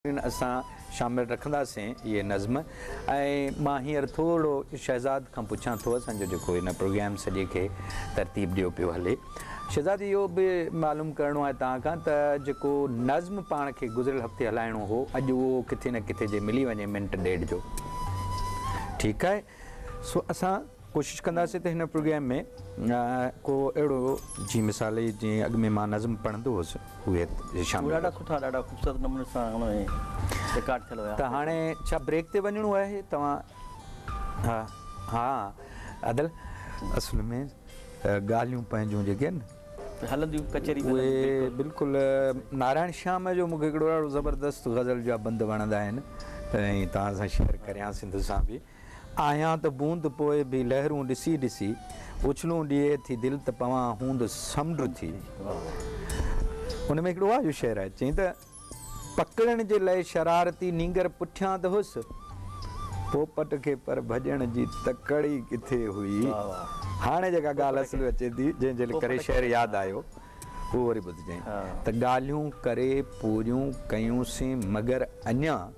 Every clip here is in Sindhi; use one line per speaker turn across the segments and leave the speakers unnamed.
ڪن اسان شامل رکنداسين اهي نظم ۽ مان هينئر ٿورڙو شهزاد کان پڇان ٿو اسان جو جيڪو هن پروگرام سڄي کي ترتيب ڏيو پيو هلي شهزاد اهو به معلوم ڪرڻو آهي توهان کان ته جيڪو نظم پاڻ کي گذريل هفتي هلائڻو هو اڄ اهو ڪٿي نه ڪٿي جي ملي وڃي منٽ ڏيڍ جو ٺيڪ آهي سو اسان ڪوشش ڪنداسين ته هن پروگرام ۾ ڪو اهڙو جي مثال جي اڳ ۾ مان نظم پڙهندو هوس اهي شامل ڪريو. ڏاڍا سٺا ڏاڍا خوبصورت
نموني سان هن ۾ رڪارڊ ٿيل هيا. ته هاڻي ڇا بريڪ
تي وڃڻو آهي توهان ها ها عادل اصل ۾ ڳالهيون پنهنجون جيڪي آهن هلنديون ڪچهري به هلندي
اهي بلڪل
نارائڻ شيام جو مونکي هڪڙو ڏاڍو زبردست غزل جا بند وڻندا آهن ۽ توهان سان شيئر ڪريان سنڌ سان به. آهيان ته بوند پوء به لهرون ڏسي ڏسي اڇلون ڏئي ٿي دل ته پوان هوند سمنڊ ٿي. ان ۾ هڪڙو واجهو شعر آهي چئين ته پڪڙڻ جي لئه شرارتي نينگر پٺيان ته هيس پوپٽ کي پر ڀڄڻ جي تڪڙ ئي ڪٿي هئي. هاڻي جيڪا ڳالهه اصل ۾ اچي ٿي جنهن جي ڪري شعر ياد آيو اهو وري ٻڌجئين ته ڳالهيون ڪري پوريون ڪيونسين مگر اڃان.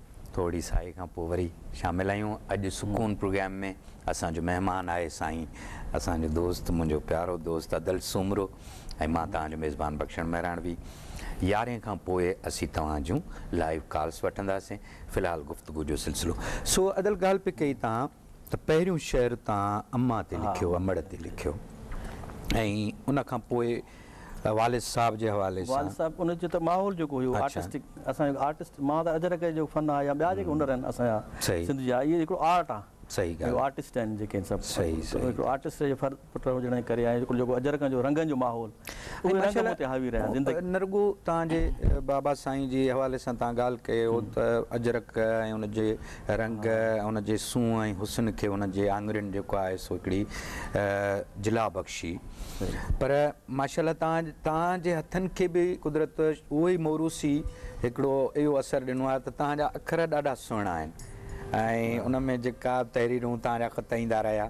ٿورڙي ساهي کان پوء وري شامل آهيون اڄ سڪون پروگرام ۾ اسان جو مهمان آهي سائين اسان جو دوست منهنجو پيارو دوست ادل سومرو ۽ مان توهان جو ميزبان بخشڻ مهراڻوي يارهين کان پوء اسين توهان جون لائيو ڪالس وٺنداسين في الحال گفتگو جو سلسلو سو ادل ڳالهه پئي ڪئي توهان ته پهريون شعر تان اما تي لکيو امڙ تي لکيو ۽ ان کان پوء والد صاحب جي حوالي سان. والد صاحب ان جو ته ماحول
جيڪو هيو آرٽسٽڪ اسان جو آرٽسٽ مان ته اجرڪ جو فن آهي يا ٻيا جيڪي هنر آهن اسان جا سنڌ جا اهي هڪڙو آرٽ آهي آرٽسٽ
آهن جيڪي
سڀ هڪڙو آرٽسٽ
جي
پٽ هجڻ جي ڪري آهي جيڪو اجرڪن جو رنگن جو ماحول اهي رنگ مون تي حاوي رهيا زندگي. نه رڳو توهان جي
بابا سائين جي حوالي سان توهان ڳالهه ڪيو ته اجرڪ ۽ ان جي رنگ ان جي سونهن ۽ حسن کي ان جي آڱرين جيڪو آهي سو هڪڙي جلا بخشي پر ماشاءالله توهان توهان جي هٿن کي به قدرت اهو ئي موروثي هڪڙو اهو اثر ڏنو آهي ته توهان جا اکر ڏاڍا سهڻا آهن ۽ ان ۾ جيڪا تحريرون توهان جا خط ايندا رهيا.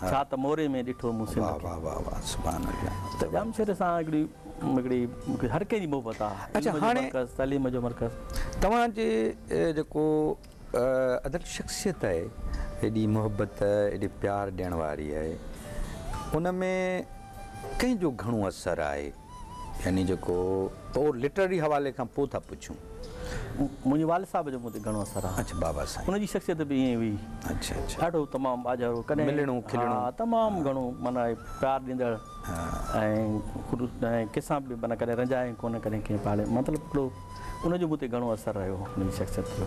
ڇا ته موري ۾ ڏٺو مون سنڌ کي. واه واه واه سبحان الله. ته ڄامشوري سان هڪڙي هڪڙي هر ڪنهن جي محبت آ. علم جو مرڪز تعليم
جو مرڪز.
توهان جي
جيڪو ادب شخصيت آهي ايڏي محبت ايڏي پيار ڏيڻ واري آهي ان ۾ ڪنهن جو گهڻو اثر آهي. يعني جيڪو تو لٽرري حوالي کان پوء ٿا پڇون. منهنجي
والد صاحب جو مون تي گهڻو اثر آهي. اڇا بابا سائين. ان جي
شخصيت به ائين هئي. اڇا
اڇا. ڏاڍو
تمام ٻاجهارو
ڪڏهن. ملڻو کلڻو. ها
تمام گهڻو
معنيٰ پيار ڏيندڙ. ها. ۽ خلوص ۽ ڪنهن سان به معنيٰ ڪڏهن رنجايم ڪونه ڪڏهن ڪنهن پاڙي مطلب اهڙو ان جو مون تي گهڻو اثر رهيو ان جي شخصيت جو.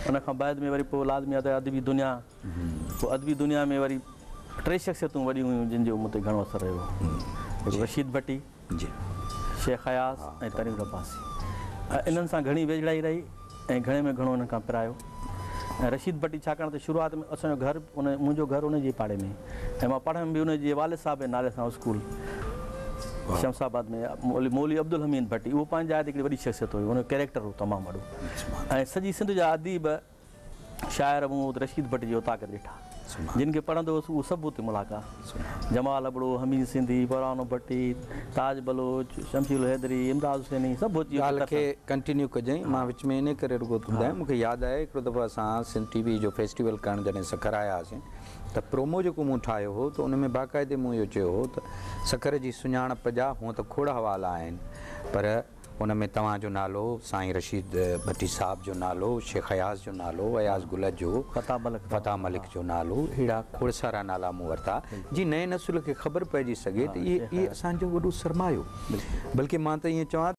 ان کان بعد ۾ وري پوء لازمي آهي ته ادبي دنيا. پوء ادبي دنيا ۾ وري ٽي شخصيتون وڏيون هيون جن جو مون تي گهڻو اثر رهيو هڪ رشيد ڀٽي، شيخ اياز ۽ ترنگ عباسي ۽ انهن سان گهڻي ويجهڙائي رهي ۽ گهڻي ۾ گهڻو انهن کان پرايو ۽ رشيد ڀٽي ڇاڪاڻ ته شروعات ۾ اسان جو گهر منهنجو گهر ان جي پاڙي ۾ ۽ مان پڙهيم به ان جي والد صاحب جي نالي سان اسڪول شمس آباد ۾ مولوي عبدالحميد ڀٽي اهو پنهنجي جاء تي هڪڙي وڏي شخصيت هيو ان جو ڪيريڪٽر هو تمام وڏو ۽ سڄي سنڌ جا اديب شاعر محمد رشيد ڀٽ جي اوطاق ڏٺا، جن کي پڙهندو هوس اهو سڀ اتي ملحقه آ. جمال ابڙو، حميد سنڌي، پرانو ڀٽي، تاج بلوچ، شمشير الحيدري، امداد حسيني سڀ اچي اتي ڳالهه کي ڪنٽينيو
ڪجئين، مان وچ ۾ انهي ڪري رڳو ٿو ٻڌايان، مون کي ياد آهي هڪڙو دفعو اسان سنڌ ٽي وي جو فيسٽيول ڪرڻ جڏهن سکر آيا هئاسين ته پرومو جيڪو مون ٺاهيو هو ته ان ۾ باقاعدي مون اهو چيو هو ته سکر جي سڃاڻپ جا هونء ته کوڙ حوالا آهن پر ان ۾ توهان جو نالو، سائين رشيد ڀٽي صاحب جو نالو، شيخ اياز جو نالو، اياز گل جو، فتاح ملڪ جو نالو، اهڙا کوڙ سارا نالا مون ورتا، جيئن نئين نسل کي خبر پئجي سگهي ته اهي اسان جو وڏو سرمايو، بلڪه مان ته ائين چوان ته.